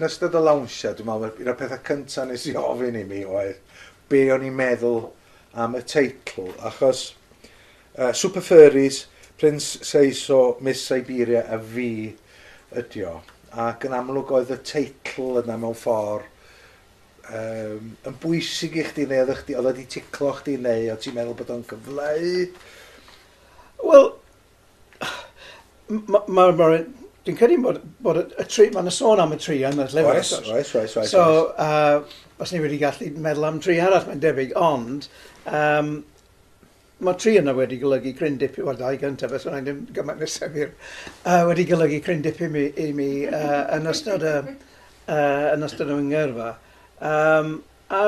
yn ystod y lawnsio, dwi'n meddwl, un o'r pethau cyntaf nes i ofyn i mi oedd be o'n i'n meddwl am y teitl, achos Super Furries, Prince Seiso, Miss Siberia a fi ydi o. Ac yn amlwg oedd y teitl yna mewn ffordd um, yn bwysig i chdi neu oedd chdi, oedd wedi ticlo chdi neu oedd ti'n meddwl bod o'n cyfleu? Wel, mae... Ma, ma, dwi'n credu bod, bod y, y tri, mae'n sôn am y tri yn y llyfr. Oes, oes, oes, oes. So, uh, os ni wedi gallu meddwl am tri arall, mae'n debyg, ond um, Mae tri yna wedi golygu cryn dipyn, wel dau gyntaf beth bynnag, ddim gymaint â Semir, yy wedi golygu cryn dipyn mi, i mi yy yn ystod y yy yn ystod y ngyrfa. Um, a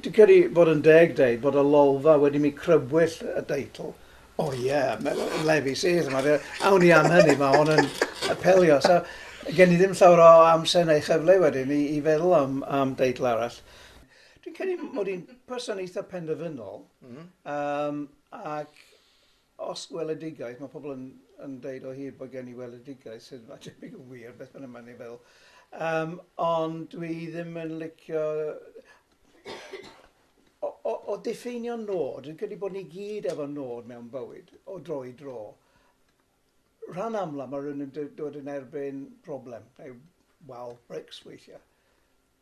dwi'n credu bod yn deg dweud bod y lolfa wedi mi crybwyll y deitl. O oh, ie, yeah, lefi sydd yma. Awn ni am hynny, mae hon yn apelio. So, gen i ddim llawer o amser neu chyfle wedyn i, i feddwl am, am deitl arall. Dwi'n credu mod i'n person eitha penderfynol yym ac os gweledigaeth, mae pobl yn yn deud o hyd bod gen i weledigaeth sydd falle ddim yn wir beth bynnag mae'n ei feddwl yym ond dwi ddim yn licio o o o diffeinio nôd, dwi'n credu bod ni gyd efo nôd mewn bywyd o dro i dro. Rhan amla mae rhywun yn d- dod yn erbyn problem neu wal brics weithiau.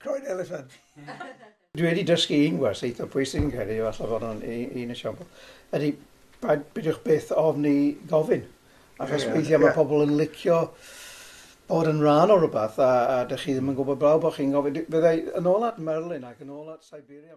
Croen eliffant. Dwi wedi dysgu un gwers eitha pwysig yn credu, efallai fod o'n un esiampl, ydy paid beidiwch byth ofn i gofyn. Achos yeah, weithiau yeah. mae pobl yn licio bod yn rhan o rhywbeth a, a dych chi ddim yn gwybod blaw bod chi'n gofyn. Byddai yn ôl at Merlin ac yn ôl at Siberia.